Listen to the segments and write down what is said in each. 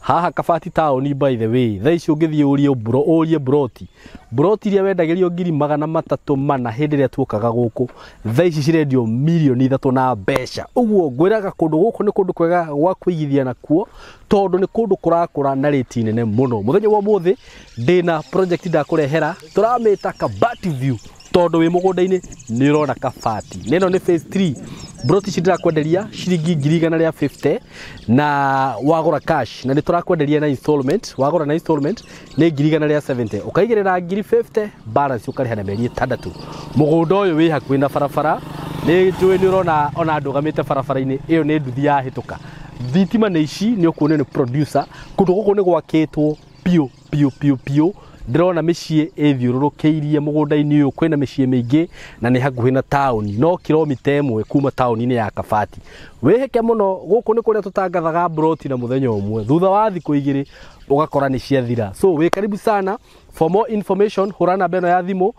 Haha kabati taũni by the way, thaa ici ũngĩthiĩ ũrie bro, ũrie buroti. Buroti iria wendagĩrio ngiri magana matatũ mana hĩndĩ ĩrĩa tuokaga gũkũ, thaa ici cirendio mirioni ithatũ na mbeca. Ũguo ngwĩraga kũndũ gũkũ nĩ kũndũ kwega gwa kũigithia nakuo, tondũ nĩ kũndũ kũrakũra na rĩti nene mũno. Mũthenya wa ũmũthĩ ndĩna project ndakũrehera, tũramĩta kabati view. tondũ wĩ mũgũnda-inĩ nĩ ũrona kabati. Na ĩno nĩ phase three. Mburoti ici ndĩrakwenderia ciringi ngiri igana rĩa fifty na wagũra cash na nĩ tũrakwenderia na installment. Wagũra na installment nĩ ngiri igana rĩa seventy. Ũkaigĩrĩra ngiri fifty balance ũkarĩha na mĩeri ĩtandatũ. Mũgũnda ũyũ wĩ hakuhĩ na barabara, nĩ njũĩ nĩ ũrona ona ndũgamĩte barabara-inĩ, ĩyo nĩ nduthi yahĩtũka. Thitima nĩ ici, nĩ ũkuonio nĩ producer. Kũndũ gũkũ nĩ gwakĩtwo biũ. biũ biũ biũ ndĩrona mĩciĩ ĩthiũrũrũkĩirie mũgũnda-inĩ ũyũ kwĩna mĩciĩ mĩingĩ na nĩ hakuhĩ na taũni no kilomita ĩmwe kuma taũni-inĩ ya kabati wĩhĩke mũno gũkũ nĩ kũrĩa tũtangathaga mburoti na mũthenya ũmwe thutha wa thikũ igĩrĩ ũgakora nĩ ciathira so wĩ karibu sana for more information hũra namba ĩno ya thimũ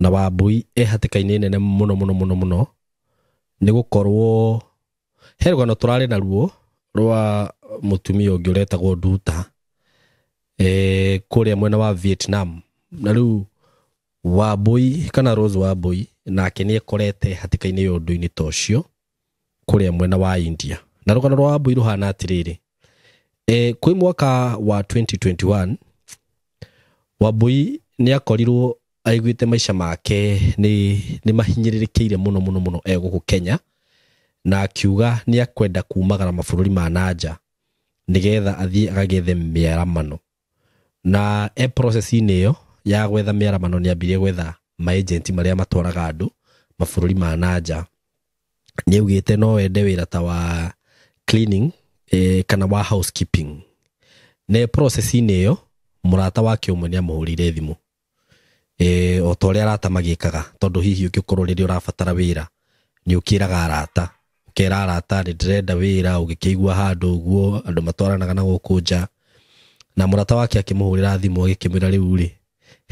na Wambui e hatĩka-inĩ nene mũno mũno mũno mũno nĩ gũkorwo he rũgano tũrarĩ naruo rwa mũtumia ũngĩ ũretagwo Nduta e, kũrĩa mwena wa Vietnam na rĩu Wambui kana Rose Wambui nake nĩ ekorete hatĩka-inĩ ya ũndũ-inĩ ta ũcio kũrĩa mwena wa India na rũgano rwa Wambui rũhana atĩrĩrĩ e, kwĩ mwaka wa 2021 Wambui nĩ akorirwo aiguĩte maica make nĩ, nĩ mahinyĩrĩrĩkĩire mũno mũno mũno e gũkũ Kenya na akiuga nĩ akwenda kumagara mabũrũri ma nanja nĩgetha athiĩ agagethe mĩaramano na e process-inĩ ĩyo ya gwetha mĩaramano nĩ ambirie gwetha maĩjenti marĩa matwaraga andũ mabũrũri ma na nja. Nĩ augĩte no ende wĩra ta wa cleaning eh, kana wa housekeeping. Na e process-inĩ ĩyo mũrata wake ũmwe nĩ amũhũrĩire thimũ e, o ta ũrĩa arata magĩkaga tondũ hihi ũngĩkorwo rĩrĩa ũrabatara wĩra nĩ ũkĩraga arata ũkera arata nĩ ndĩrenda wĩra ũgĩkĩigua handũ ũguo andũ matwaranaga na gũkũ nja na mũrata wake akĩmũhũrĩra thimũ agĩkĩmwĩra rĩu rĩ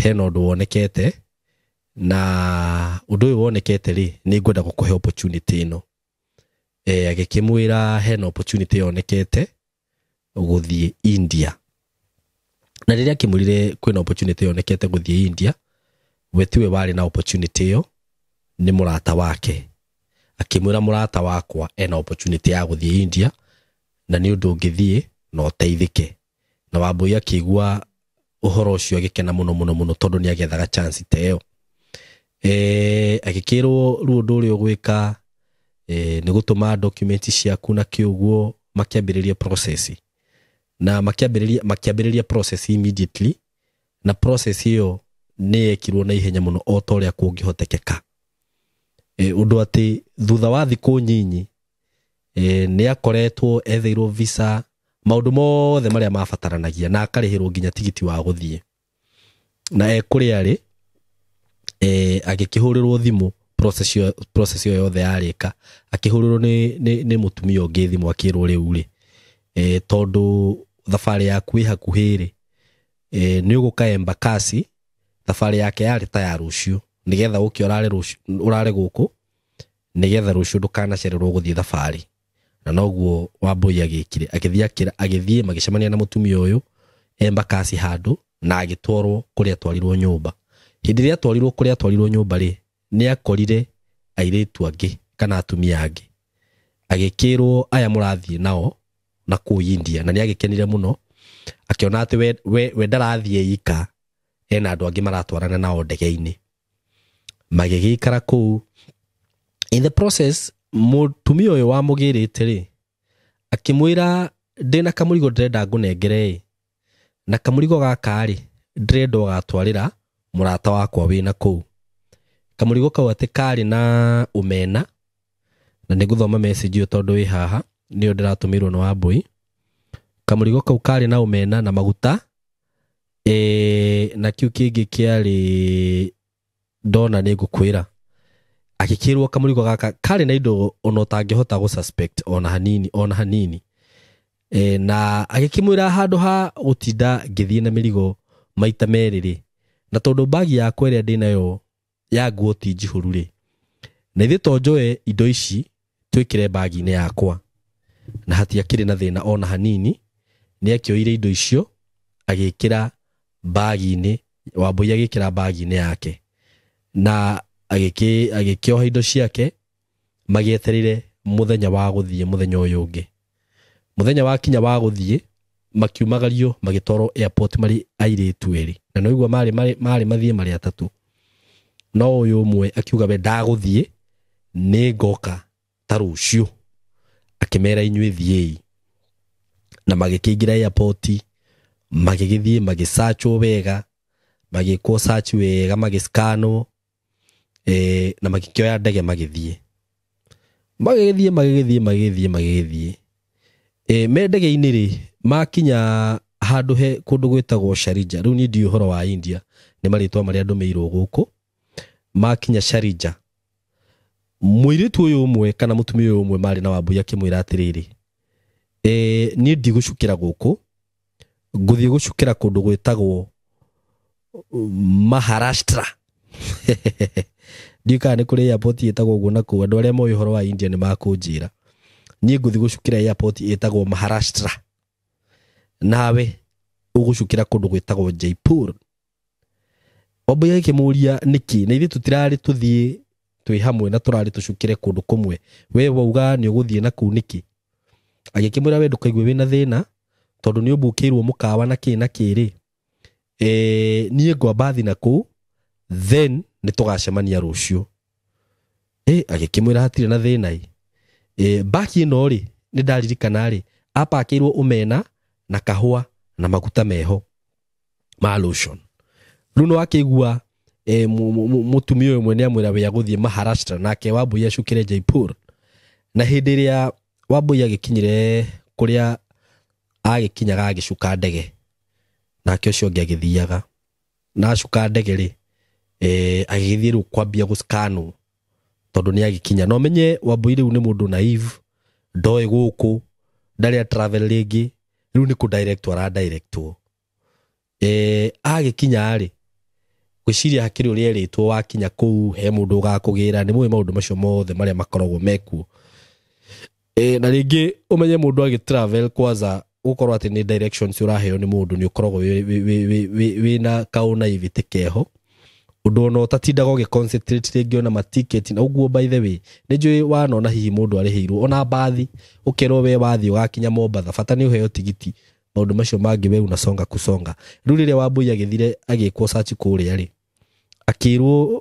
hena ũndũ wonekete na ũndũ ũyũ wonekete rĩ nĩ ngwenda gũkũhe opportunity ĩno e, agĩkĩmwĩra hena opportunity yonekete gũthiĩ India. Na rĩrĩa akĩmwĩrire kwĩna opportunity yonekete gũthiĩ India, we tiwe warĩ na opportunity ĩyo, nĩ mũrata wake. Akĩmwĩra mũrata wakwa ena opportunity ya gũthiĩ India, na nĩ ũndũ ũngĩthiĩ na ũteithĩke. Na Wambũi akĩigua ũhoro ũcio agĩkena mũno mũno mũno tondũ nĩ agethaga chance ta ĩyo eh, agĩkĩrwo rĩu ũndũ ũrĩa ũgwĩka eh, nĩ gũtũma document ciaku na kĩũguo makĩambĩrĩria process na makĩambĩrĩria makĩambĩrĩria process immediately na process ĩyo nĩ yekirwo na ihenya mũno o ta ũrĩa kũngĩhotekeka e, ũndũ atĩ thutha wa thikũ nyinyi e, nĩ akoretwo etheirwo visa maũndũ mothe marĩa mabataranagia na akarĩhĩrwo nginya tigiti wa gũthiĩ na e kũrĩa arĩ e, agĩkĩhũrĩrwo thimũ process ĩyo- process ĩyo yothe yarĩka akĩhũrĩrwo nĩ, nĩ, nĩ mũtumia ũngĩ thimũ akĩrwo rĩu rĩ e, tondũ thabarĩ yaku ĩ hakuhĩ rĩ e, nĩ ũgũka embakasi thabarĩ yake yarĩ ta ya rũciũ nĩgetha ũke ũrare rũciũ- ũrare gũkũ nĩgetha rũciũ ndũkanacererwo gũthiĩ thabarĩ na noguo wambũi agĩkire agĩthiĩ akĩra- agĩthiĩ magĩcemania na mũtumia ũyũ emba kasi handũ na agĩtwarwo kũrĩa atwarirwo nyũmba hĩndĩ ĩrĩa atwarirwo kũrĩa atwarirwo nyũmba rĩ nĩ akorire airĩtu angĩ kana atumia angĩ agĩkĩrwo aya mũrathiĩ nao na kũu India na nĩ agĩkenire mũno akĩona atĩ we, we, we ndarathiĩ ika ena andũ angĩ maratwarana nao ndege-inĩ magĩgĩikara kũu in the process mũtumia ũyũ wamũgĩrĩte rĩ akĩmwĩra ndĩna kamũrigo ndĩrenda ngũnengere ĩ na kamũrigo gaka rĩ ndĩrenda ũgatwarĩra mũrata wakwa wĩna kũu kamũrigo kau atĩ karĩ na ũmena na nĩ gũthoma message ĩyo tondũ wĩ haha nĩyo ndĩratũmĩirwo nĩ wambũi kamũrigo kau karĩ na ũmena na maguta e, na kiu kingi kiari ndona ni ngukwira agikirwo kamurigo gaka kari na indo ona utangihota gu suspect ona hanini ona hanini e, na agikimwira handu ha gutinda ngithii na mirigo maita meriri na tondu bagi yakwa iria ndinayo ya nguo ti njihũru rĩ na ithuĩ to njoe indo ici twĩkĩre mbaginĩ yakwa na hatiakĩrĩ na thĩna ona hanini nĩ akĩoire indo icio agĩkĩra mbaginĩ wambũi agĩkĩra mbaginĩ yake na agĩkĩ- agĩkĩoha indo ciake magĩetereire mũthenya wa gũthiĩ mũthenya ũyũ ũngĩ mũthenya wakinya wa gũthiĩ makiumagario magĩtwarwo airport marĩ airĩtu erĩ na nĩ ũguo marĩ marĩ marĩ mathiĩ marĩ atatũ no ũyũ ũmwe akiuga we ndagũthiĩ nĩ ngoka ta rũciũ akĩmera inyuĩ thiĩi na magĩkĩingĩra airport magĩgĩthiĩ magĩsachwo wega magĩkwo search wega magĩscanwo eh, na magĩkĩoya ndege magĩthiĩ magĩgĩthiĩ magĩgĩthiĩ magĩgĩthiĩ magĩgĩthiĩ eh, me ndege-inĩ rĩ makinya handũ he kũndũ gwĩtagwo Sharija rĩu niĩ ndiũĩ ũhoro wa India nĩ marĩtwa marĩa ndũmĩirwo gũkũ makinya Sharija mũirĩtu ũyũ ũmwe kana mũtumia ũyũ ũmwe marĩ na wambui akĩmwĩra atĩrĩrĩ eh, niĩ ndigũcukĩra gũkũ ngũthiĩ gũcukĩra kũndũ gwĩtagwo Maharashtra ndiũ kana nĩ kũrĩ airport ĩtagwo ũguo na kũu andũ arĩa moĩ ũhoro wa India nĩ makũnjĩra niĩ ngũthiĩ gũcukĩra airport ĩtagwo Maharashtra nawe ũgũcukĩra kũndũ gwĩtagwo Jaipur Wambũi agĩkĩmũria nĩkĩ na ithuĩ tũtirarĩ tũthiĩ twĩ hamwe na tũrarĩ tũcukĩre kũndũ kũmwe we wauga nĩ ũgũthiĩ na kũu nĩkĩ Agĩkĩmwĩra we ndũkaigue wĩna thĩna tondũ nĩ ũmbũkĩirwo mũkawa na kĩĩ na kĩĩ-rĩ, eh, niĩ ngwamba thi na kũu then nĩ tũgacemania rũciũ. Eh, agĩkĩmwĩra hatirĩ na thĩna-ĩ. Eh, mbaki ĩno-rĩ, nĩ ndaririkana-rĩ, apakĩirwo omena na kahũa na maguta meho. ma lotion rä u nä wakä igua eh, mu- mu- mu- mũtumia ũyũ mwene amwĩra wĩ agũthiĩ maharashtra nake wambũi acukĩre jaipur na hĩndĩ ĩrĩa wambũi agĩkinyire kũrĩa agĩkinyaga agĩcuka ndege nake ũcio ũngĩ agĩthiaga na acuka ndege rĩ eh, agĩgĩthiĩ rĩu kwambia gũskanwo tondå nä agäkinya no menye wambui rä u nä må ndå naive ndoä gå kå ndarä a travel rä ngä rä u nä kå directwo ara directwo eh, agä kinya rä gwĩciria hakĩrĩ ũrĩa erĩtwo wakinya kũu he mũndũ ũgakũgĩra nĩ mũĩ maũndũ macio mothe marĩa makoragwo mekuo e, na rĩngĩ ũmenye mũndũ agĩ travel kwaza gũkorwo atĩ nĩ directions ũraheo nĩ mũndũ nĩ ũkoragwo wĩna kaũna ivĩtĩ keho ũndũ ona ũtatindaga ũgĩ concentrate rĩngĩ ona matiketi na ũguo by the way nĩ njũĩ wanona hihi mũndũ arĩhĩirwo ona mbathi ũkerwo we wathiĩ ũgakinya mombatha bata nĩ ũheo tigiti maũndũ macio mangĩ we unasonga kusonga rĩu rĩrĩa wambũi agĩthire agĩkwo search kũrĩa rĩ akĩrwo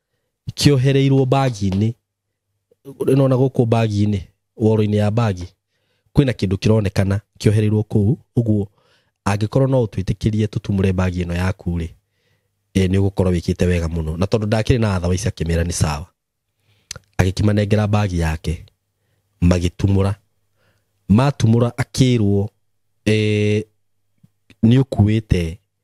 kĩohereirwo mbagi-inĩ nona gũkũ mbagi-inĩ woro-inĩ ya mbagi kwĩna kĩndũ kĩronekana kĩohereirwo kũu ũguo angĩkorwo no ũtwĩtĩkĩrie tũtumũre mbagi ĩno yaku rĩ e, nĩ ũgũkorwo wĩkĩte wega mũno na tondũ ndakĩrĩ na atha waici akĩmera nĩ sawa agĩkĩmanengera mbagi yake magĩtumũra matumũra akĩrwo e, nĩ ũkuĩte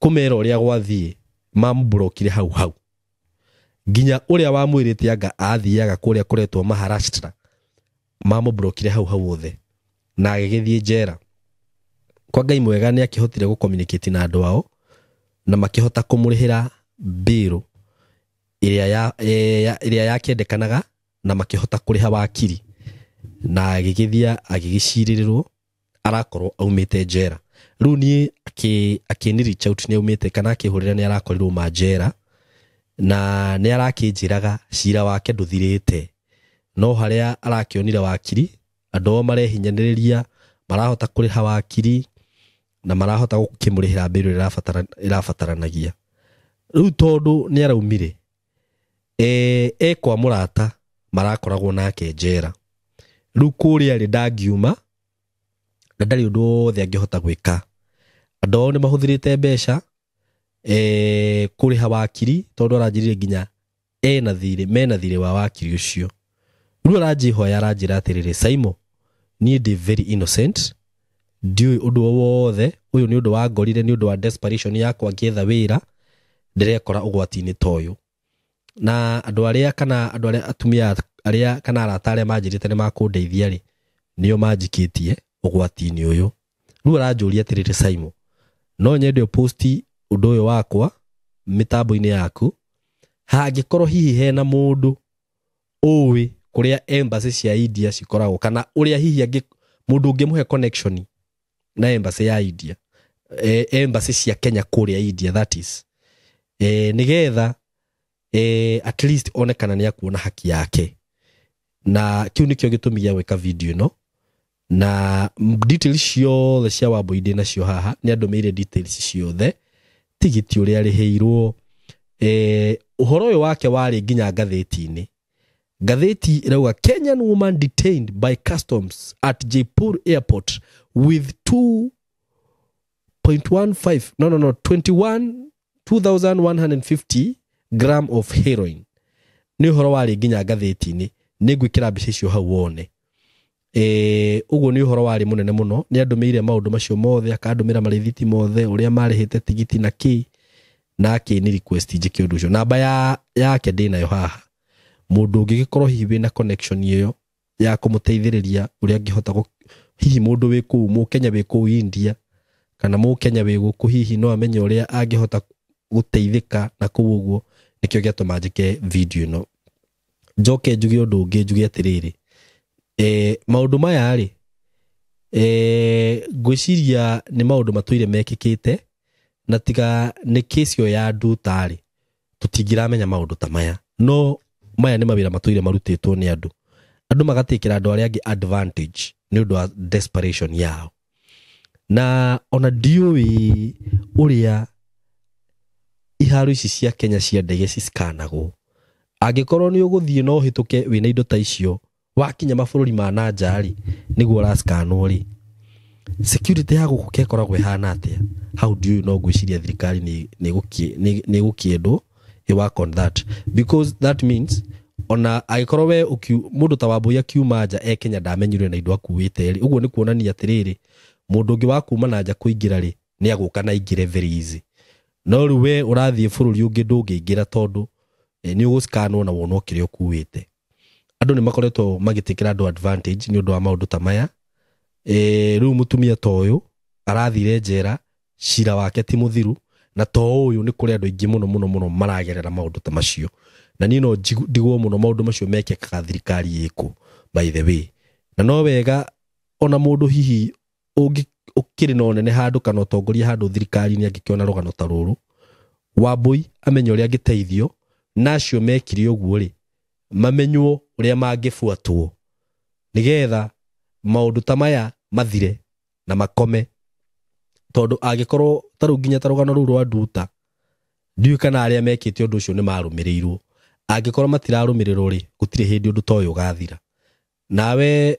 kũmera ũrĩa gwathiĩ mamburokire hau hau nginya ũrĩa wamwĩrĩte anga athiaga kũrĩa kũretwo Maharashtra mamũburokire hau hau othe na agĩgĩthiĩ njera kwa Ngai mwega nĩ akĩhotire gũkomunicate na andũ ao na makĩhota kũmũrĩhĩra mbĩrũ ĩrĩa ya, e, ya, ĩrĩa yakĩendekanaga na makĩhota kũrĩha wakiri na agĩgĩthiĩ agĩgĩcirĩrĩrwo arakorwo aumĩte njera rĩu niĩ akĩ- akĩni reach out nĩ aumĩte kana akĩhũrĩra nĩ arakorirwo ma njera na nĩ arakĩnjĩraga cira wake ndũthirĩte no harĩa arakĩonire wakiri andũ ao marehinyanĩrĩria marahota kũrĩha wakiri na marahota gũkĩmũrĩhĩra mbirũ ĩrabatara- ĩrabataranagia rĩu tondũ nĩ araumire e, ekwa mũrata marakoragwo nake njera rĩu kũrĩa rĩ ndangiuma na ndarĩ ũndũ wothe angĩhota gwĩka andũ ao nĩ mahũthĩrĩte mbeca e, kũrĩha wakiri tondũ aranjĩrire nginya ena thirĩ mena thirĩ wa wakiri ũcio Rĩu aranjĩhoya aranjĩra atĩrĩrĩ, Saimo, niĩ ndĩ very innocent, ndiũĩ ũndũ o wothe, ũyũ nĩ ũndũ wangorire nĩ ũndũ wa desperation yakwa ngĩetha wĩra, ndĩrekora ũgwati-inĩ ta ũyũ. Na andũ arĩa kana andũ arĩa atumia arĩa kana arata arĩa manjĩrĩte nĩ makũndeithia rĩ, nĩo manjikĩtie ũgwati-inĩ ũyũ. Rĩu aranjũria atĩrĩrĩ, Saimo, no nyende post ũndũ ũyũ wakwa mĩtambo-inĩ yaku, hangĩkorwo hihi hena mũndũ ũĩ kũrĩa embassy cia India cikoragwo kana ũrĩa hihi angĩ mũndũ ũngĩmũhe connection na embassy ya India eh, embassy cia Kenya kũrĩa India that is eh, nigetha eh, at least one kana nĩ akuona haki yake na kiu nikio gitumi gĩa gwika video ino na details ciothe cia wambui ndĩ nacio haha nĩ andũmĩire details ciothe tigiti ũrĩa arĩhĩirwo eh, ũhoro ũyũ wake warĩ nginya ngathĩti-inĩ ngathĩti ĩrauga kenyan woman detained by customs at jaipur airport with 2.15 no no no 21 2150 gram of heroin nĩ ũhoro warĩ nginya ngathĩti-inĩ nĩ ngwĩkĩra mbica icio hau wone Ee, ũguo nĩ ũhoro warĩ mũnene mũno nĩ andũmĩire maũndũ macio mothe akandũmĩra marĩthiti mothe ũrĩa marĩhĩte tigiti na kĩ na akĩni request njĩke ũndũ ũcio namba ya yake ndĩnayo haha mũndũ ũngĩgĩkorwo hihi wĩna connection ĩyo ya kũmũteithĩrĩria ũrĩa angĩhota gũ- hihi mũndũ wĩ kũu mũkenya wĩ kũu india kana mũkenya wĩ gũkũ hihi no amenye ũrĩa angĩhota gũteithĩka na kũu ũguo nĩkĩo gĩatũma njĩke video ĩno njoke njuge ũndũ ũngĩ njuge atĩrĩrĩ eh, maũndũ maya rĩ eh, ngwĩciria nĩ maũndũ matũire mekĩkĩte na tiga nĩ kĩsi ĩyo ya ndutarĩ tũtingĩramenya maũndũ ta maya no maya nĩ mawĩra matũire marutĩtwo nĩ andũ andũ magatikĩra andũ arĩa angĩ advantage nĩ ũndũ wa desperation yao na ona ndiũĩ ũrĩa iharo ici cia Kenya cia ndege cisikanagwo angĩkorwo nĩ ũgũthiĩ na ũhĩtũke wĩna indo ta icio wakinya mabũrũri ma na nja rĩ nĩguo ũrasikanwo rĩ security ya gũkũ ke ĩkoragwo ĩhana atĩa hau ndiũĩ no ngwĩciria thirikari nĩ- nĩ ĩgũkĩ- nĩ- nĩ ĩgũkĩendwo you work on that because that means ona agĩkorwo we ũkiu- mũndũ ta wambũi akiuma nja e kenya ndamenyire na indo akuĩte rĩ ũguo nĩ kuonania atĩrĩrĩ mũndũ ũngĩ wa kuma na nja kũingĩra rĩ nĩ agũka na aingĩre very easy no rĩu we ũrathiĩ bũrũri ũngĩ ndũngĩingĩra tondũ eh, nĩ ũgũskanwo na wonwo kĩrĩa ũkuĩte andũ nĩ makoretwo magĩtĩkĩra andũ advantage nĩ ũndũ wa maũndũ ta maya e, rĩu mũtumia ta ũyũ arathire njera cira wake ti mũthiru na to ũyũ nĩ kũrĩ andũ aingĩ mũno mũno mũno maragerera maũndũ ta macio na niĩ no ndigwo mũno maũndũ macio mekĩkaga thirikari ĩkũ by the way na no wega ona mũndũ hihi ũngĩ ũkĩrĩ na ũnene handũ kana ũtongoria handũ thirikari-inĩ angĩkĩona rũgano ta rũrũ wambũi amenye ũrĩa angĩteithio na acio mekire ũguo rĩ mamenywo ũrĩa mangĩbuatwo nĩgetha maũndũ ta maya mathire na makome tondũ angĩkorwo ta rĩu nginya ta rũgano rũu rwa nduta ndiũĩ kana arĩa mekĩte ũndũ ũcio nĩ marũmĩrĩirwo angĩkorwo matirarũmĩrĩrwo rĩ gũtirĩ hĩndĩ ũndũ ta ũyũ ũgathira nawe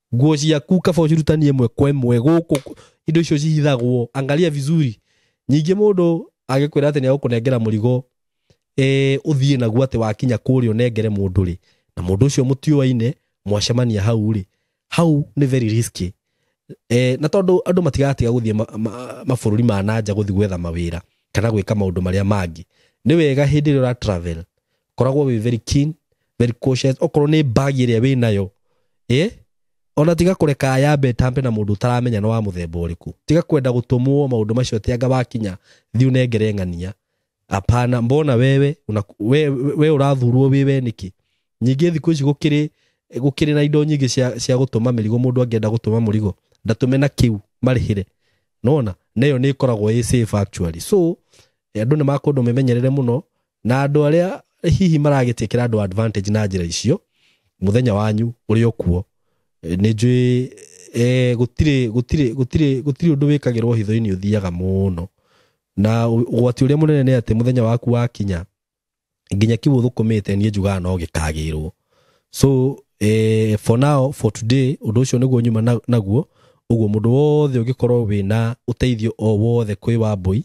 nguo ciaku kaba ũcirutanie ĩmwe kwa ĩmwe gũkũ indo icio cihithagwo angalia vizuri nyingĩ mũndũ agĩkwĩra atĩ nĩagũkũnengera mũrigo eh, ũthiĩ naguo atĩ wakinya kũrĩa ũnengere mũndũ rĩ na mũndũ ũcio mũtiũaine mwacemania hau rĩ hau nĩ very risky eh, na tondũ andũ matigatiga gũthiĩ ma- ma- mabũrũri ma nanja gũthiĩ gwetha mawĩra kana gwĩka maũndũ marĩa mangĩ nĩ wega hĩndĩ ĩrĩa ũra travel koragwo wĩ very keen very cautious okorwo nĩ bagi ĩrĩa wĩ nayo eh ona tiga kũreka yambe tambe na mũndũ ũtaramenya nĩ wa mũthemba ũrĩkũ tiga kwenda gũtũmwo maũndũ macio atĩ anga wakinya thiĩ ũnengere ng'ania apana mbona wewe una, we, we, we ũrathurwo wĩ we nĩkĩ nyingĩ thikũ ici gũkĩrĩ gũkĩrĩ na indo nyingĩ cia, cia gũtũma mĩrigo mũndũ angĩenda gũtũma mũrigo ndatũme na kĩu marĩhĩre nona na ĩyo nĩ ĩkoragwo ĩ safe actually so eh, andũ nĩ makũndũ memenyerere mũno Na andũ arĩa hihi maragĩtĩkĩra andũ advantage na njĩra icio, mũthenya wanyu ũrĩ o kuo. Eh, Nĩ njũĩ eh, gũtirĩ gũtirĩ gũtirĩ gũtirĩ ũndũ wĩkagĩrwo hitho-inĩ ũthiaga mũno. Na ũ- ũgwati ũrĩa mũnene nĩ atĩ mũthenya waku wakinya nginya kiugo thũkũmĩte niĩ njugaga no gĩkagĩrwo so eh, for now for today ũndũ ũcio nĩguo nyuma na- naguo ũguo mũndũ wothe ũngĩkorwo wĩna ũteithio o wothe kwĩ wambũi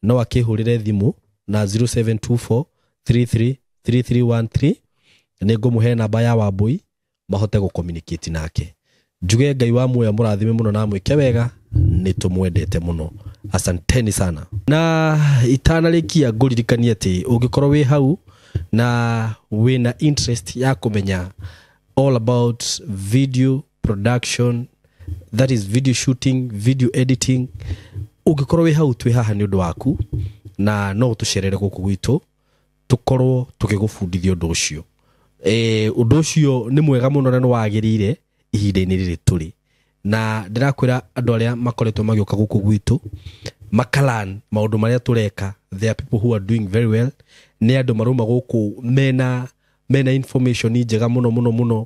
no akĩhũrĩre thimũ na 0724 33 3313 nĩ ngũmũhe namba ya wambũi mahote gũcommunicate nake Njuge Ngai wa muoyo amũrathime mũno na amwĩke wega, nĩ tũmwendete mũno. Asanteni sana. Na itanarĩkia ngũririkanie atĩ ũngĩkorwo wĩ hau na wĩna interest ya kũmenya all about video production that is video shooting, video editing, ũngĩkorwo wĩ hau twĩ haha nĩ ũndũ waku na no ũtũcerere gũkũ gwitũ tũkorwo tũgĩgũbundithia ũndũ ũcio eh, ũndũ ũcio nĩ mwega mũno na nĩ wagĩrĩire ihinda-inĩ rĩrĩ tũrĩ na ndĩrakwĩra andũ arĩa makoretwo magĩũka gũkũ gwitũ makalan maũndũ marĩa tũreka there are people who are doing very well nĩ andũ marauma gũkũ mena mena information njega mũno mũno mũno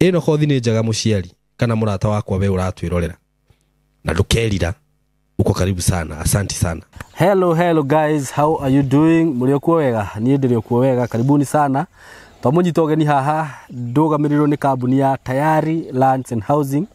ĩno kothi nĩ njega mũciari kana mũrata wakwa we ũratwĩrorera na ndũkerira uko karibu sana asanti sana Hello, hello guys, how are you doing? Mũrĩ okuo wega? Niĩ ndĩrĩ okuo wega, karibuni sana. Twamũnyita ũgeni haha, ndũgamĩrĩirwo nĩ kambuni ya Tayari Lands and Housing.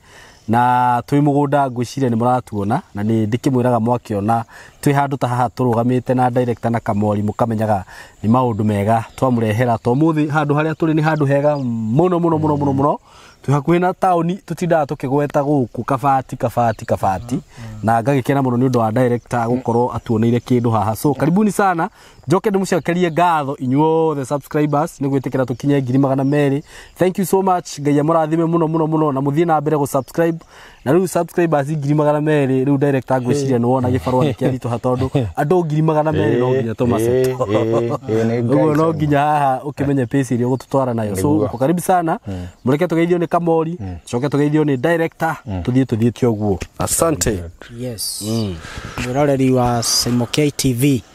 na twĩ mũgũnda ngwĩciria nĩ mũratuona na nĩ ndĩkĩmwĩraga mwakĩona twĩ handũ ta haha tũrũgamĩte na director na kamori mũkamenyaga nĩ maũndũ mega twamũrehera to mũthĩ handũ harĩa tũrĩ nĩ handũ hega mũno mũno mũno mũno mũno twĩ hakuhĩ na taũni tũtindaga tũkĩgweta gũkũ kabati kabati kabati na ngagĩkena mũno nĩ ũndũ wa director gũkorwo atuoneire kĩndũ haha so karibuni sana njoke ndĩmũcokerie ngatho inyuothe subscribers nĩ gwĩtĩkĩra tũkinye ngiri magana merĩ thank you so much ngai amũrathime mũno mũno mũno na mũthiĩ na mbere gũ subscribe na rĩu subscribers ngiri magana merĩ rĩu director ngwĩciria nĩ wona gĩbarũa nĩ kĩaritũha tondũ andũ ngiri magana merĩ no nginya tũmaceto ũguo no nginya haha ũkĩmenye pace ĩrĩa ũgũtũtwara nayo so Nĩguo. uko karibu sana mũreke tũgeithio nĩ kamori coke tũgeithio nĩ director tũthiĩ tũthiĩte ũguo asante yes mwĩroreri wa Simokei TV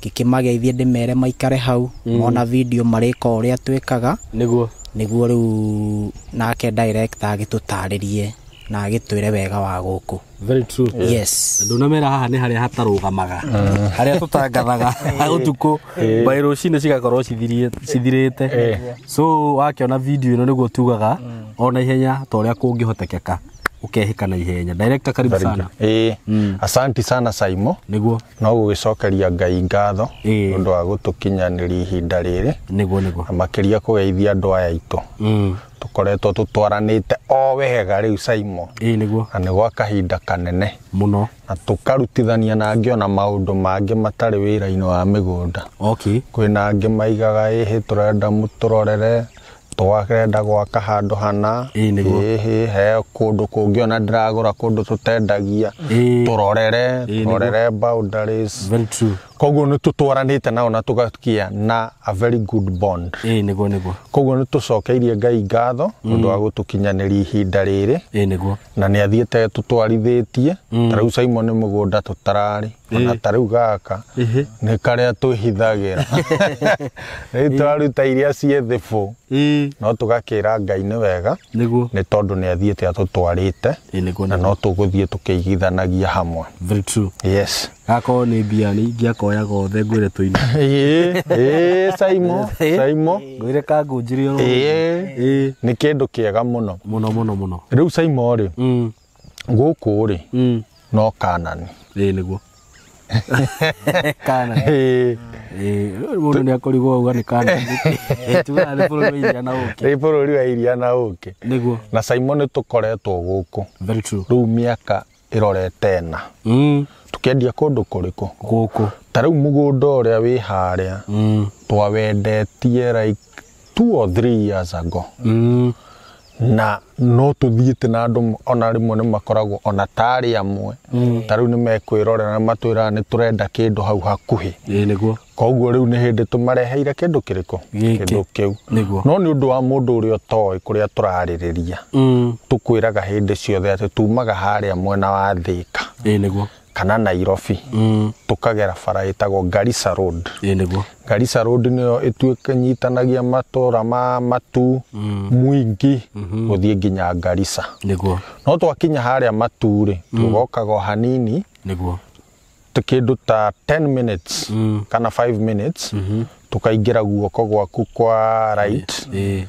Ngĩkĩmageithia ndĩmere maikare hau mona video marĩka ũrĩa twĩkaga Nĩguo. nĩguo rĩu nake director agĩtũtarĩrie na agĩtwĩre wega wa gũkũ. Very true. Yes. Ndunamera haha nĩ harĩa hatarũgamaga. Harĩa tũtangathaga ũtukũ by rũcinĩ cigakorwo cithirie- cithirĩte. So wakĩona video ĩno nĩguo tugaga ona ihenya ta ũrĩa kũngĩhotekeka. ũkehĩka na ihenya director karibu sana ĩĩ Mm. asanti sana saimo niguo no gũgĩcokeria ngai ngatho Ĩĩ. nĩ ũndũ wa gũtũkinyanĩria ihinda rĩrĩ niguo niguo na makĩria kũgeithia andũ aya aitũ Mm. tũkoretwo tũtwaranĩte o wega rĩu saimo ĩĩ niguo na nĩ gwa kahinda kanene mũno na tũkarutithania na angĩ ona maũndũ mangĩ matarĩ wĩra-inĩ wa mĩgũnda okay kwĩna angĩ maigaga ĩhĩ tũrenda mũtũrorere Twarenda gwaka handũ hana Ĩĩ nĩguo. Ĩĩ, ĩĩ, he kũndũ kũngĩ ona ndĩragũra kũndũ tũtendagia Ĩĩ. tũrorere Ĩĩ, nĩguo. tũrorere boundaries Very true. koguo nĩ tũtwaranĩte nao na tũgakĩa na a very good bond Ĩĩ nĩguo nĩguo. koguo nĩ tũcokeirie ngai ngatho ũndũ wa gũtũkinyanĩria ihinda rĩrĩ Ĩĩ nĩguo. na nĩ athiĩte tũtwarithĩtie ta rĩu Simon nĩ mũgũnda tũtararĩ ona ta rĩu gaka Ĩhĩ. nĩ karĩa twĩhithagĩra rĩu twaruta iria ciĩ thibũ Ĩĩ. no tũgakĩra ngai nĩ wega Nĩguo. nĩ tondũ nĩ athiĩte atũtwarĩte Ĩĩ, nĩguo, na nĩguo. no tũgũthiĩ tũkĩigithanagia hamwe Very true. yes Gakorwo nĩ mbia nĩ ingĩakoya gothe ngwĩre tũine. Ĩĩ, ĩĩ, saimo saimo Ngwĩre kangunjĩrio. Ĩĩ. Ĩĩ. nĩ kĩndũ kĩega mũno Mũno mũno mũno. rĩu saimo rĩ Mm. gũkũ rĩ Mm. no kanani Ĩĩ nĩguo. Kana. Ĩĩ, Ĩĩ, rĩu mũndũ nĩ akũrigwo ũguo nĩ kana. Tugaga nĩ bũrũri wa iria na ũkĩ. nĩ bũrũri wa iria na ũkĩ Nĩguo. na simon tũkoretwo gũkũ Very true. rĩu mĩaka ĩrorete ĩna Mm. tũkĩendia kũndũ kũrĩkũ Gũkũ. ta rĩu mũgũnda ũrĩa wĩ harĩa Mm. twawendetie like two or three years ago Mm. na no tũthiĩte na andũ ona rĩmwe nĩ makoragwo ona tarĩ amwe ta rĩu nĩ mekwĩrorera matwĩraga nĩ tũrenda kĩndũ hau hakuhĩ Ĩĩ nĩguo. koguo rĩu nĩ hĩndĩ tũmareheire kĩndũ kĩrĩkũ Gĩkĩ. kĩndũ kĩu Nĩguo. no nĩ ũndũ wa mũndũ ũrĩa ũtoĩ kũrĩa tũrarĩrĩria Mm. tũkwĩraga hĩndĩ ciothe atĩ tumaga harĩa mwena wa thĩka Ĩĩ nĩguo. kana nairobi mm. tũkagera bara ĩtagwo garisa road nĩguo garisa road nĩyo ĩtuĩkanyitanagia matũra ma matu mm. mwingi mm-hmm. gũthiĩ nginya garisa nĩguo no twakinya harĩa matu rĩ mm. tũgokaga o hanini nĩguo kĩndũ ta 10 minutes mm. kana 5 minutes mm-hmm. tũkaingĩra guoko gwaku kwa right e, e.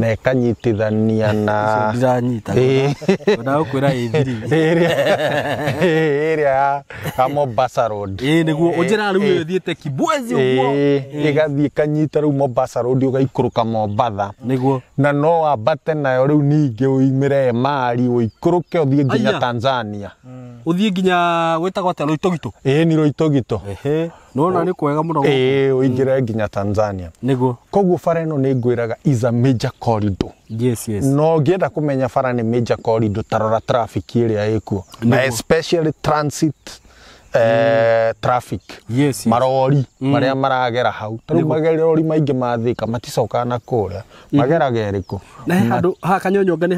na ĩkanyitithania na ndiranyita Ĩĩ. ndagũkwĩra ĩthiri ĩrĩa ĩrĩa ya- ya Mombasa Road ĩĩ nĩguo ũnjĩra rĩu ĩyo ĩthiĩte kibwezi ũguo Ĩĩ, ĩgathiĩ ĩkanyita rĩu Mombasa Road ũgaikũrũka Mombasa nĩguo na no wambate nayo rĩu ningĩ ũimĩre Emari ũikũrũke ũthiĩ nginya Aya. Tanzania ũthiĩ nginya gwĩtagwo atĩa rũitũgitũ ĩĩ ni Roitogito Ehe. nona nä kwega må no ĩĩ ũingĩre nginya tanzania nĩguo koguo bara ĩno nĩ ngwĩraga is a major corridor yes yes no ngĩenda kũmenya bara nĩ major corridor tarora traffic ĩrĩa ĩkuo na Nĩguo. especially transit eh, traffic Yes, yes. marori marĩa maragera hau tarĩu magerori maingĩ mathĩka maticokaga na kũrĩa mageraga ĩrĩkũ na he handå ha kanyonyonga nä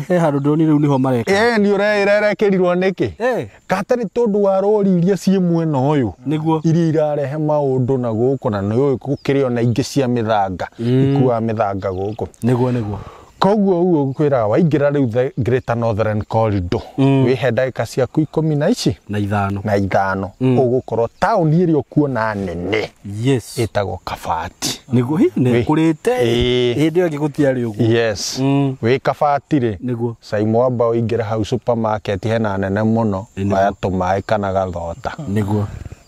he handå ndonire u nä ho mareka ĩĩ nĩ ũreĩra ĩrekĩrirwo nĩkĩ Eh. Katarĩ tondũ wa rori iria ciĩ mwena ũyũ nĩguo iria irarehe maũndũ na gũkũ na nĩũĩ gũkĩrĩ ona ingĩ cia mĩthanga mm. ikuaga mĩthanga gũkũ nĩguo nĩguo koguo uguo ngwĩraga waingĩra rĩu the greater northern corridor mm. wĩhe ndagĩka ciaku ikũmi na ici na ithano na ithano mm. ũgũkorwo taũni ĩrĩa ũkuona nene yes ĩtagwo kabati nĩguo hihi nĩkũrĩte hĩndĩ ĩyo ĩngĩ gũtiarĩ ũguo yes mm. wĩ kabati rĩ nĩguo Saimo wamba ũingĩre hau supermarket hena nene mũno Nĩguo. oya tũmaĩ kana gathota nĩguo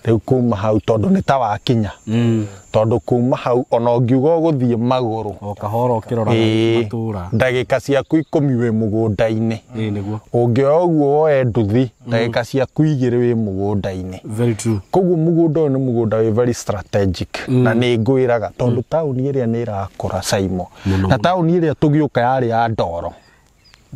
rĩu kuma hau tondũ nĩ ta wakinya Mm. tondũ kuma hau ona ũngiuga ũgũthiĩ magũrũ o kahora ũkĩrora ĩĩ, matũra ndagĩka ciaku ikũmi wĩ mũgũnda-inĩ ĩĩ nĩguo ũngĩoya ũguo woe nduthi ndagĩka ciaku igĩrĩ wĩ mũgũnda-inĩ very true koguo mũgũnda ũyũ nĩ mũgũnda wĩ very strategic na nĩ ngwĩraga tondũ taũni ĩrĩa nĩ ĩrakũra caimo Mũno. na taũni ĩrĩa tũgĩũka yarĩ ya ndoro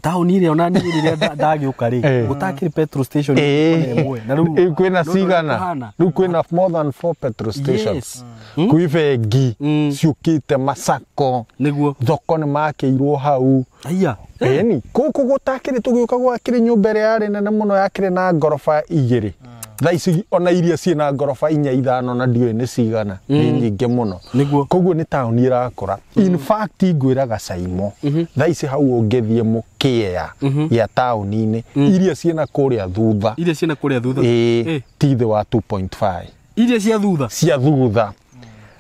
taũni ĩrĩa ona niĩ rĩrĩa nda- ndagĩũka rĩ Eh. gũtakĩrĩ petrol station Eh. ona ĩmwe. na rĩu Eh, kwĩna rĩu cigana kũhana. rĩu kwĩna more than four petrol stations Yes. Mm. kwĩ bengi Mm. ciũkĩte macako nĩguo thoko nĩ makĩirwo hau aiya eni kũkũ gũtakĩrĩ tũgĩũka gwakĩrĩ nyũmba ĩrĩa yarĩ nene mũno yakĩrĩ na ngoroba igĩrĩ thaa ici ona iria ciĩ na ngoroba inya ithano na ndiũĩ nĩ cigana nĩ nyingĩ mũno Nĩguo. koguo nĩ taũni ĩrakũra in fact ngwĩra gacaimo thaa ici hau ũngĩthiĩ mũkĩea gĩa taũni-inĩ iria ciĩ na kũrĩa thutha iria ciĩna kũrĩa thutha ĩĩ Eh, ti thĩ wa 2.5 iria cia thutha cia thutha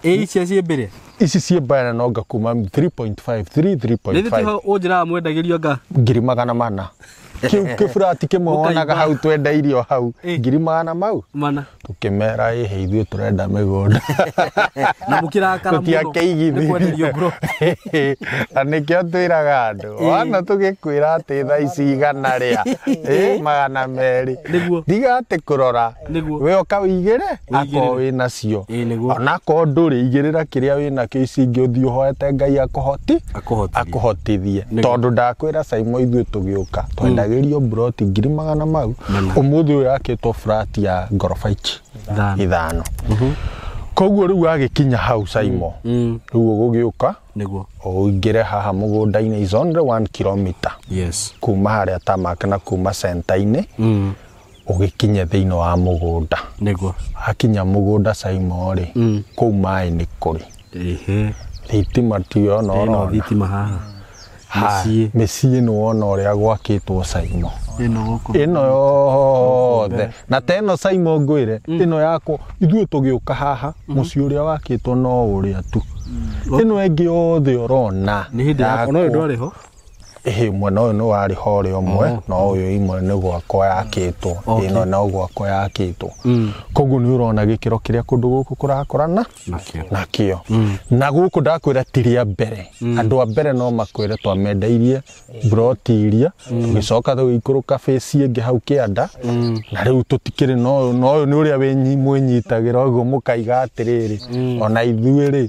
ĩ icio ciĩ mbere ici ciĩ mbere no ngakuma 3.5 3 nĩ 3.5 thĩtĩho ũnjĩraga mwendagĩrio nga ngiri magana mana kĩu kĩburati kĩmwe Ũkaimba. wonaga hau twenda irio hau Ĩ. ngiri magana mau mana tũkĩmera ĩhĩ ithuĩ tũrenda mĩgũnda na mũkĩrakara mũno nĩ kwenderio ngoro tũtiakĩigithĩrie na nĩkĩo twĩraga andũ Ĩ. wana tũgĩkwĩra atĩ thaa ici igana rĩa ĩ, magana merĩ Nĩguo. ndiga atĩ kũrora Nĩguo. we oka wĩigĩre akorwo Wĩigĩrĩre. wĩ nacio Ĩĩ, nĩguo. onakorwo ndũrĩ igĩrĩra kĩrĩa wĩ nakĩo ici ingĩ ũthiĩ ũhoete ngai akũhoti Akũhotithie. akũhotithie Nĩguo. tondũ ndakwĩra caimo ithuĩ tũgĩũka twendagĩrio mburoti ngiri magana mau Mana. ũmũthĩ ũyũ yakĩtwo burati ya ngoroba ici Ithano. ithano koguo rĩu agĩkinya hau caimo Mm. rĩu ũgũgĩũka Nĩguo. ũingĩre haha mũgũnda-inĩ is only one kilometer Yes. kuma harĩa tamak na kuma centa-inĩ Mm. ũgĩkinye thĩinĩ wa mũgũnda nĩguo akinya mũgũnda caimo rĩ Mm. kũu maĩ nĩ kũrĩ ehe thitima tiyo no ĩno ũrona thitima haha Ha, mũciĩ mĩciĩ nĩ wona ũrĩa gwakĩtwo caimo ĩno gũkũ ĩno yothe na ta ĩno caimo ngwĩre ĩno yakwo ithuĩ tũgĩũka haha mũciĩ ũrĩa wakĩtwo no ũrĩa tu ĩno ĩngĩ yothe ũrona nĩ hĩndĩ ya no yakwo. ndwarĩ ho Ĩhĩ, mwena ũyũ nĩ warĩ hore ũmwe oh. na ũyũ imwe nĩ gwakwa yakĩtwo okay. ĩno no gwakwa yakĩtwo mm. koguo nĩ ũrona gĩkĩro kĩrĩa kũndũ gũkũ kũrakorana nakĩo mm. na gũkũ ndakwĩra ti rĩa mbere mm. andũ a mbere no makwĩre twamendeirie mburoti iria mm. tũgĩcoka tũgĩikũrũka bĩci ĩngĩ hau kĩanda mm. na rĩu tũtikĩrĩ na ũyũ nĩ ũrĩa mwĩnyitagĩra ũguo mũkaiga atĩrĩrĩ mm. ona ithuĩ rĩ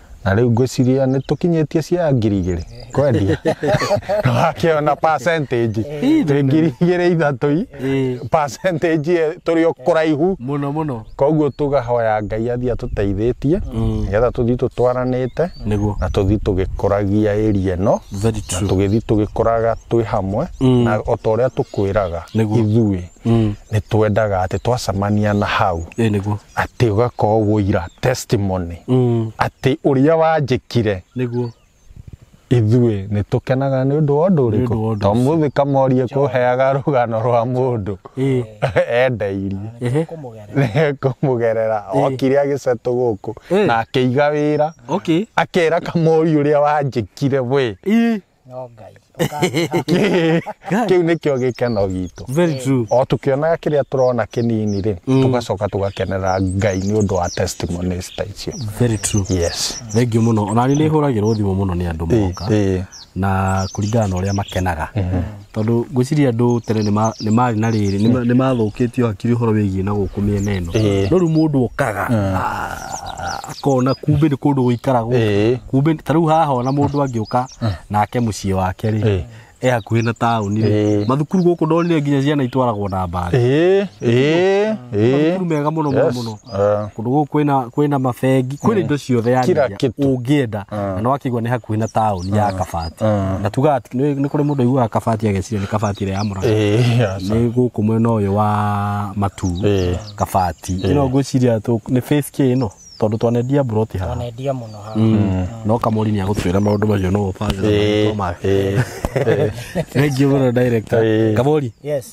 na rĩu ngwĩciria nĩ tũkinyĩtie cia ngiri igĩrĩ kwendia wakĩona percentage twĩ ngiri igĩrĩ ithatũ i Ĩĩ. percentage ĩ- tũrĩ o kũraihu mũno mũno koguo tũgahoya ngai athiĩ atũteithĩtie nĩgetha tũthiĩ tũtwaranĩte nĩguo na tũthiĩ tũgĩkũragia ĩria ĩno very na true tũgĩthiĩ tũgĩkũraga twĩ hamwe na o ta ũrĩa tũkwĩraga Nĩguo. ithuĩ Mm. nĩ twendaga atĩ twacemania na hau Ĩ nĩguo. atĩ ũgakorwo wũira testimony Mm. atĩ ũrĩa wanjĩkire Nĩguo. ithuĩ nĩ tũkenaga nĩ ũndũ wa ũndũ ũndũ wa ũrĩkũ ũndũ to mũthĩ kamorie kũheaga rũgano rwa mũndũ Ĩ. endeirie Ehe. kũmũgerera kũmũgerera okire agĩcetũ gũkũ Ĩ. na akĩiga wĩra Okay. akera kamori ũrĩa wanjĩkire we Ĩ. no ngai Kĩ- kĩu nĩkĩo gĩkeno gitũ Very true. o tũkĩonaga kĩrĩa tũrona kĩnini rĩ tũgacoka tũgakenera ngai nĩ ũndũ wa testimonies ta icio Very true. yes Thengiũ mũno. Ona niĩ nĩ hũragĩrwo thimũ mũno nĩ andũ Ĩĩ, moka ĩĩ. na kũringana na ũrĩa makenaga. Tondũ ngwĩciria andũ tene nĩ ma- nĩ marĩ na rĩrĩ nĩ ma- nĩ mathũkĩtio hakiri ũhoro wĩgiĩ na gũkũ mĩena ĩno Ĩĩ. no rĩu mũndũ okaga ah, akona kumbĩ nĩ kũndũ gũikaragwo Ĩĩ. kumbĩ ta rĩu haha ona mũndũ angĩũka nake mũciĩ wake rĩ Ĩĩ. e hakuhĩ na taũni rĩ Ĩĩ. mathukuru gũkũ ndonire nginya ciana itwaragwo na mbathi ĩĩ ĩĩ ĩĩ mathukuru mega mũno mũno Yes. mũno Eh, kũndũ gũkũ kwĩna kwĩna mabengi kwĩna indo ciothe yani Kila iria kitu. ũngĩenda na nĩ wakĩigua nĩ hakuhĩ na taũni ya kabati na tugaga ati- nĩ nĩ kũrĩ mũndũ aiguaga kabati ageciria nĩ kabati ĩrĩa ya mũranga eh, ya sa- nĩ gũkũ mwena ũyũ wa matu Eh. kabati ĩno ngwĩciria tũ- nĩ face k ĩno tondũ twanendia mburoti haha Wanendia mũno haha. no kamori nĩ agũtwĩra maũndũ macio no ũbange na eh, maũndũ make. eh, eh. thank you mũno director Eh. kamori Yes.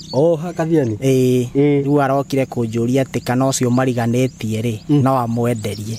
Oh, Kathiani. Ĩĩ, Ĩĩ. rĩu arokire kũnjũria atĩ kana ũcio mariganĩtie rĩ no amwenderie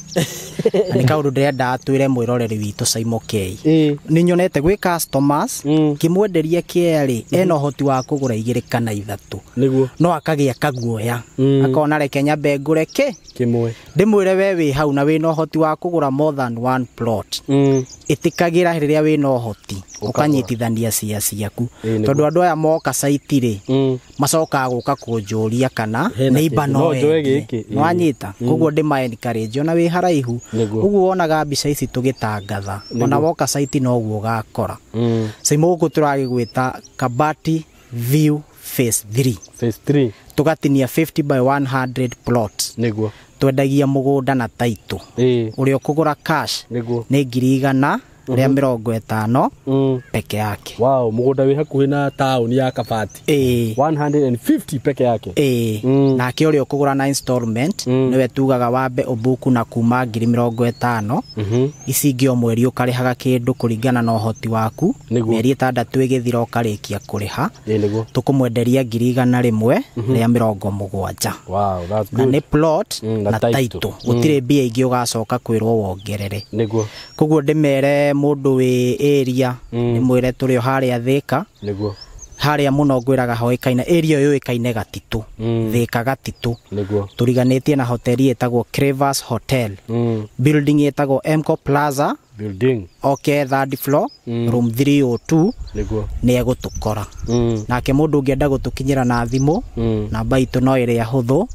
Na nĩ kaũndũ ndĩrenda atwĩre mwĩroreri witũ Simon K Ĩĩ. nĩ nyonete gwĩ customers Mm. kĩmwenderia kĩea rĩ ena ũhoti wa kũgũra igĩrĩ kana ithatũ Nĩguo. no akagĩa kaguoya Mm. akona reke nyambe ngũre kĩ Kĩmwe. ndĩmwĩre we wĩ hau na wĩna ũhoti wa kũgũra more than one plot Mm. ĩtĩkagĩra rĩrĩa wĩna ũhoti ũkanyitithania cia ciaku Ĩĩ, nĩguo. tondũ andũ aya moka caitirĩ Mm. macokaga gũka kũnjũria kana Hena neiba kĩndũ. no No njoe endie. gĩkĩ. Ĩĩ. nĩwanyita koguo ndĩmaenkarĩnji ona wĩ haraihu Nĩguo. ũguo wonaga mbica ici tũgĩtangatha ona woka caiti noguo ũgakora Mm. cimo gũkũ tũragĩgwĩta kabati view phase 3 phase 3 tũgatinia 50 by 100 plots niguo twendagia mũgũnda na taitũ ĩĩ ũrĩa ũkũgũra cash niguo nĩ ngiri igana rĩa mĩrongo ĩtano mm. peke yake wow mũgũnda wĩ hakuhĩ na taũni ya kabati ĩĩ 150 peke yake ĩĩ Mm. nake ũrĩa ũkũgũra na installment Mm. nĩwe tugaga wambe ũbuku na kuma ngiri mĩrongo ĩtano Mhm. ici ingĩ o mweri ũkarĩhaga kĩndũ kũringana na ũhoti waku Nĩguo. mĩeri ĩtandatũ ĩgĩthira ũkarĩkia kũrĩha Ĩĩ nĩguo. tũkũmwenderia ngiri igana rĩmwe rĩa mĩrongo mũgwanja Wow, that's na good. nĩ plot Mm, na na title. taitũ gũtirĩ mbia ingĩ ũgacoka kwĩrwo wongerere Nĩguo. koguo ndĩmere mũndũ wĩ area ndĩmwĩre tũrĩ o harĩa thĩka Nĩguo. harĩa mũno ngwĩraga hoĩkaine area ĩyo yũĩkaine gatitũ Mm. thĩka gatitũ Nĩguo. tũriganĩtie na hoteli ĩtagwo Cravers Hotel Mm. building ĩtagwo Emco Plaza building oke third floor Mm. room 302 nĩguo nĩ egũtũkora Mm, nake mũndũ ũngĩenda gũtũkinyĩra na thimũ mm. namba itũ no ĩrĩa hũthũ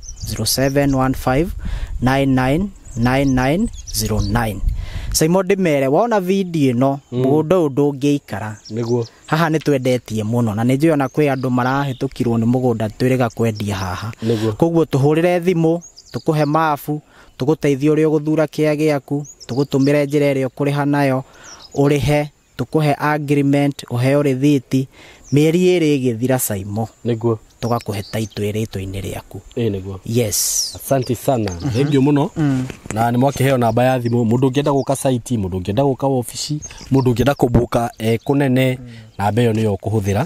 0715999909 saimo ndĩmere wona video ĩno mũgũnda ũyũ ndũngĩikara nĩguo haha nĩ twendetie mũno na nĩ njũĩ ona kwĩ andũ marahĩtũkirwo nĩ mũgũnda twĩrĩga kwendia haha Nĩguo. koguo tũhũrĩre thimũ tũkũhe mabu tũgũteithie ũrĩa ũgũthura kĩa gĩaku, tũgũtũmĩre njĩra ĩrĩa ũkũrĩha nayo, ũrĩhe, tũkũhe agreement, ũheo rĩthiti, mĩeri ĩrĩ ĩgĩthira Saimo, Nĩguo. tũgakũhe title ĩrĩ itũ-inĩ rĩaku. Ĩĩ nĩguo. Yes. Asante sana. Thengiũ mũno. Na nĩ mwakĩheo namba ya thimũ. Mũndũ ũngĩenda gũka site, mũndũ ũngĩenda gũka wabici, mũndũ ũngĩenda kũmbuka e kũnene, namba ĩyo nĩyo ũkũhũthĩra.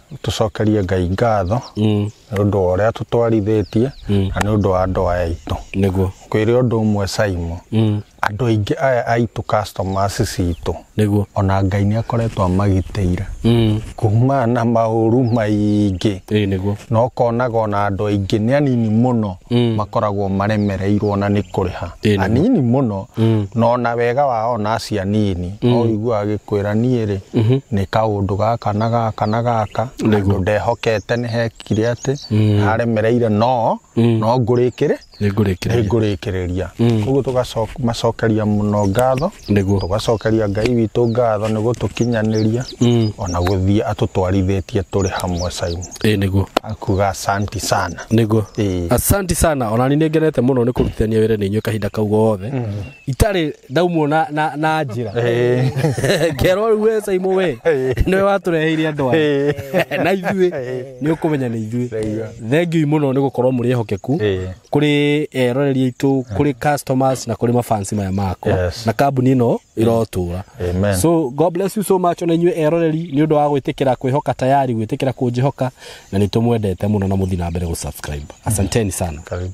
tũcokerie ngai ngatho Mm. nĩ ũndũ wa ũrĩa tũtwarithĩtie Mm. na nĩ ũndũ wa andũ aya aitũ nĩguo kwĩrĩ ũndũ ũmwe saimo Mm. andũ aingĩ aya aitũ customers citũ nĩguo ona ngai nĩ akoretwo amagitĩire Mm. kumana na maũru maingĩ ĩĩ nĩguo na ũkonaga ona andũ aingĩ nĩ anini mũno Mm. makoragwo maremereirwo na nĩ kũrĩha Ĩĩ, na nĩ. anini mũno Mm. na ona wega wa ona acio anini no ũigua agĩkwĩra niĩ rĩ nĩ kaũndũ gaka na gaka na gaka andũ ndehokete nĩ hekire atĩ haremereire no no ngũrĩkĩrĩ nĩ ngũrĩkĩrĩria nĩngũrĩkĩrĩria koguo tũgacokeria mũno ngatho Nĩguo. tũgacokeria ngai witũ ngatho nĩ gũtũkinyanĩria Mm. ona gũthiĩ atũtwarithĩtie tũrĩ hamwe Simon ĩĩ nĩguo akuga asanti sana nĩguo Ĩĩ. asanti sana ona ni nĩngenete mũno nĩ kũrutithania wĩra nĩ inyuĩ kahinda kau gothe itarĩ ndaumwo na, na, na njĩra kerwo rĩu we saimo we nĩwe watũreheire andũ aya na ithuĩ nĩ ũkũmenya nĩ ithuĩ thengiũi mũno nĩ gũkorwo mũrĩ ehokeku Ĩĩ. kuri eroreri aitå kuri customers na kuri mafansi maya makwa Yes. na kambuni ino irotura Amen. so god bless you so much ona inyuĩ eroreri nĩ ũndũ wa gwĩtĩkĩra kwĩhoka tayari gwĩtĩkĩra kũnjĩhoka na nĩ tũmwendete mũno na mũthi na mbere gũ subscribe asanteni sana Karibu.